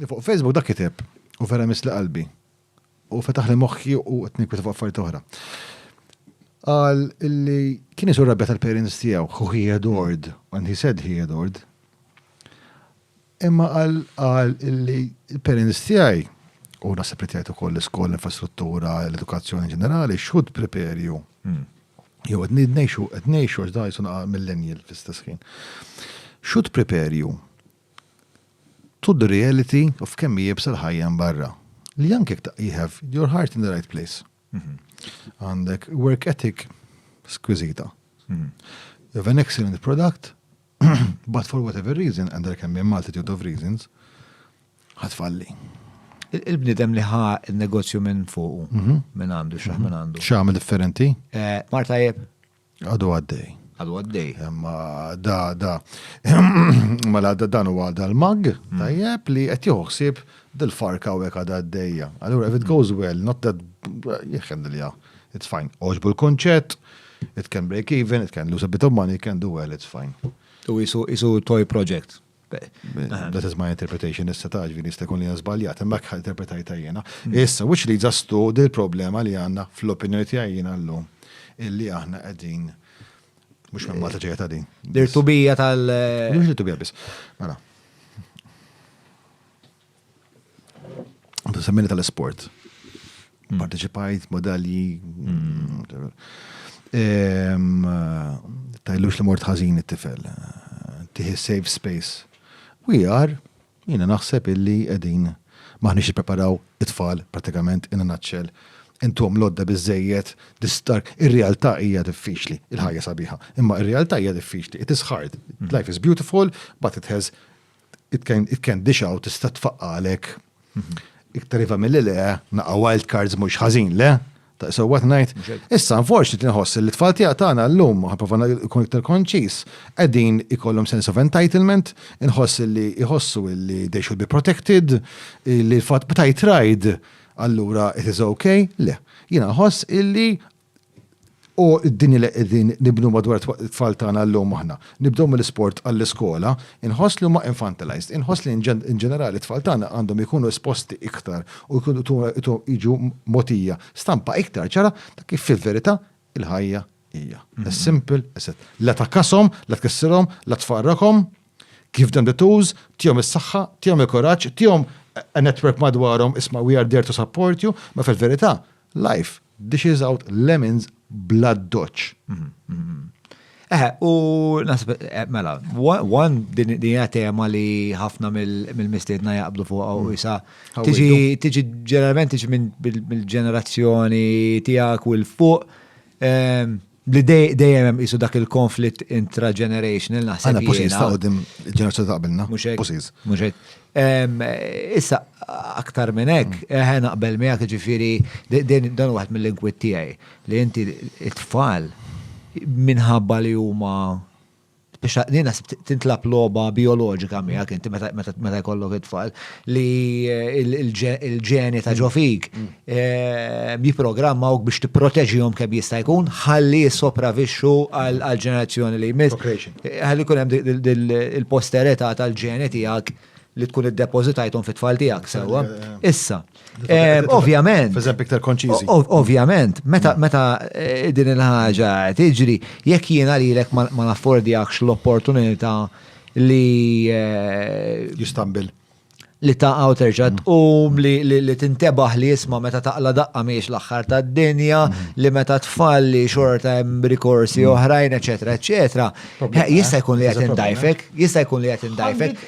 Fuq Facebook dak kiteb u vera misli qalbi. U fetaħ li moħħi u qed nikwita fuq affarijiet oħra. Qal illi kien isur rabbja tal-parents tiegħu, who he adored, and he said he adored. Imma qal qal illi l-parents tiegħi u naħseb li tgħid ukoll l-iskola, l-infrastruttura, l-edukazzjoni ġenerali, xud prepare you. Hmm. Jew qed ngħixu qed ngħixu għax dajsu millennial fl-istess ħin. Should prepare you to the reality of kemm hi iebsa l-ħajja hemm barra, li anke jekk you have your heart in the right place, għandek work ethic squiżita, you have an excellent product, but for whatever reason, and there can be a multitude of reasons, ħatfalli. Il-bnidem li ħa il-negozju minn fuq, mhm. minn għandu, xaħ minn għandu. Xaħ minn differenti? Eh, Marta jeb. Għadu għaddej. Għadu għaddej. Imma da, da. Ma la da dan huwa dal-mag, mm. tajjeb li qed joħsib dil-farka u hekk għadha għaddejja. Allura if it goes well, not that jieħen li it's fine. Oġbu l-konċett, it can break even, it can lose a bit of money, it can do well, it's fine. U jisu, jisu toy project. That is my interpretation, issa ta' ġviri jista' jkun li żbaljat, imma kħal interpretajta jiena. Mm. Issa, which leads us to dil problema li għandna fl-opinjoni tiegħi jiena llum illi aħna qegħdin mhux minn Malta ġejja ta' din. Dir tubija tal. Mhux li tubija biss. Mela. Semmini tal-sport. Mm. Parteċipajt, modalji. Mm. Ehm, tajlux li mort ħażin it-tifel. Tiħi safe space. We are, jina naħseb illi edin maħnix preparaw it-tfal pratikament in a nutshell intom lodda bizzejiet distar. Ir-realtà hija diffiċli, il-ħajja sabiħa. Imma ir-realtà hija diffiċli. It is hard. Mm. Life is beautiful, but it has it can, it can dish out, tista tfaqqa għalek. Mhm. Iktar iva mill le, naqa wild cards mux ħazin, le? Ta' so what night. Issa, unfortunately, nħoss li tfal tija tagħna llum, ħaprofa ikun iktar konċis, qegħdin ikollhom sense of entitlement, inħoss li iħossu li they should be protected, li l-fatt b'tajt ride, allura it is okay, le. Jina nħoss illi U d-dinja li qegħdin nibnu madwar it-tfal tagħna llum aħna. Nibdew mill-isport għall-iskola, inħoss li huma infantilized. Inħoss li in ġenerali t-tfal tagħna għandhom ikunu esposti iktar u jiġu mogħtija stampa iktar ċara ta' kif fil-verità il-ħajja hija. As simple as that. La tgħakkashom, la tkissirhom, la tfarrakhom, give them the tools, tihom is-saħħa, tihom il-kuraġġ, tihom a network madwarhom, isma' we are there to support you, ma' fil-verità Life dishes out lemons bla doċ. Eh, u nasib, eh, mela, one din hija tema li ħafna mill-mistiedna jaqblu fuq u jisa. Mm. Tiġi, tiġi ġeneralment tiġi minn bil-ġenerazzjoni tiegħek u l-fuq. Ehm, Li dejjem hemm qisu dak il-konflitt intra-generational naħseb. Għana pusis ta' għodim ġenerazzjoni ta' qabilna. Pusis. Muxek. Issa, aktar minn hekk, eħe naqbel miegħek ġifieri dan waħed mill-inkwitt tiegħi li inti t-tfal minħabba li huma biex nina tintlab loba biologika miegħek inti meta jkollok it-tfal li il-ġeni ta' ġofik mm. eh, jiprogrammawk biex tipproteġihom kemm jista' jkun ħalli jissopravixxu għal ġenerazzjoni li jmiss. Eh, ħalli jkun hemm il-posterità tal-ġeni tiegħek li tkun iddepożitajthom fit-tfal tiegħek sewwa. Issa, Eh, ovvjament. F'eżempju iktar konċiżi. Ovvjament, meta mm. meta eh, din il-ħaġa tiġri, jekk jiena lilek ma naffordjakx l-opportunità li. Eh, Jistambil. Li ta' għaw terġa' mm. tqum li tintebaħ li jisma' meta taqla daqqa miex l-aħħar tad-dinja, mm. li meta tfalli xorta hemm rikorsi oħrajn, eċetera, eċetera. Jista' jkun li qed indajfek, jista' jkun li qed indajfek.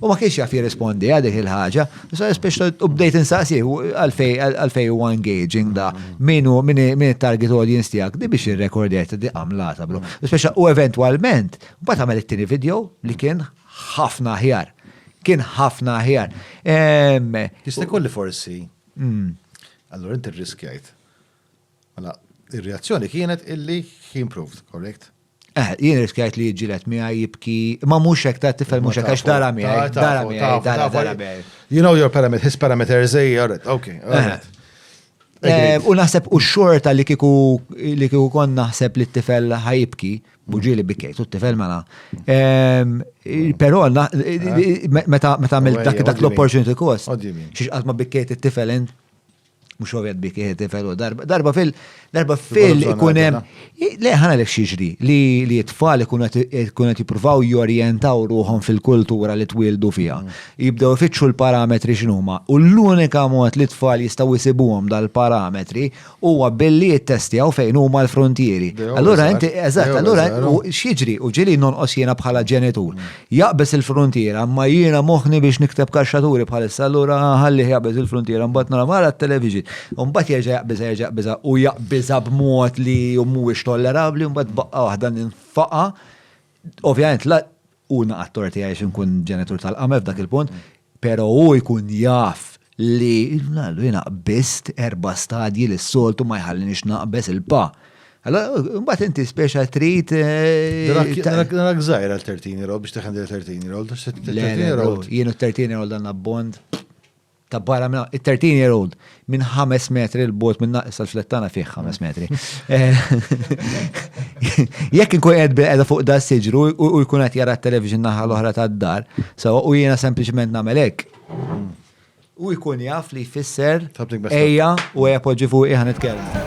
U ma kienx jaf jirrispondi għal dik il-ħaġa, u bdejt insaqsih għalfej huwa engaging da, min hu min it-target audience tiegħek di biex irrekordjajt di għamlata bro. Speċa u eventwalment, mbagħad għamel it-tieni video li kien ħafna aħjar. Kien ħafna aħjar. Jista' kolli forsi. Hmm. Allora inti rriskjajt. Mela, ir-reazzjoni kienet illi he improved, correct? Eh, jien riskjajt li jġilet miegħi jibki, ma mhux hekk ta' tifel mhux hekk għax dara miegħi, dara miegħi, dara dara miegħi. You know your parameters, his parameters, eh, all right, okay. Eh, u naħseb u xorta li kiku li kiku kon naħseb li t-tifel ħajibki, buġi li bikejt, u t-tifel mela. Ehm, Pero eh? meta għamil dak l-opportunity cost, xiex għazma bikejt t-tifel int, Mhux ovvjat bi kieħed tifel u darba. Darba fil. Darba fil ikun hemm. Le ħana lek xiġri li li t-tfal ikun qed jippruvaw jorjentaw ruħhom fil-kultura li twildu fiha. Jibdew ifittxu l-parametri x'inhuma. U l-unika mod li t-tfal jistgħu jsibuhom dal-parametri huwa billi jittestjaw fejn huma l-fruntieri. Allura inti eżatt, allura x'jiġri u ġieli nonqos jiena bħala ġenitur. Jaqbeż il-fruntiera, imma jiena moħħni biex nikteb kaxxaturi bħalissa, allura ħallih jaqbeż il-fruntiera, mbagħad nara mara t-television. Mbagħad jerġa' jaqbiżha, jerġa' jaqbiżha u jaqbiżha b'mod li mhuwiex tollerabbli, mbagħad b'baqqa waħda ninfaqa'. Ovvjament la hu naqa' t-tort tiegħi għax inkun ġenitur tal-qamel f'dak il-punt, Pero' hu jkun jaf li, Allu jiena qbist erba' stadji li s-soltu ma jħallinix naqbeż il-pa. Allura, imbagħad inti speċa trid. Narak żgħir għal 13 year old biex tiħen dil 13 year old. Jien u 13 year old għandna bond ta' barra minna. 13 year old minn ħames metri l-bot minn naqis tal-flettana fih ħames metri. Jekk inkun qed bil-qeda fuq da siġru u jkun qed jara t-television naħa l-oħra tad-dar, sawa u jiena sempliċement nagħmel hekk. U jkun jaf li jfisser ejja u ejja poġġi fuq iħan nitkellmu.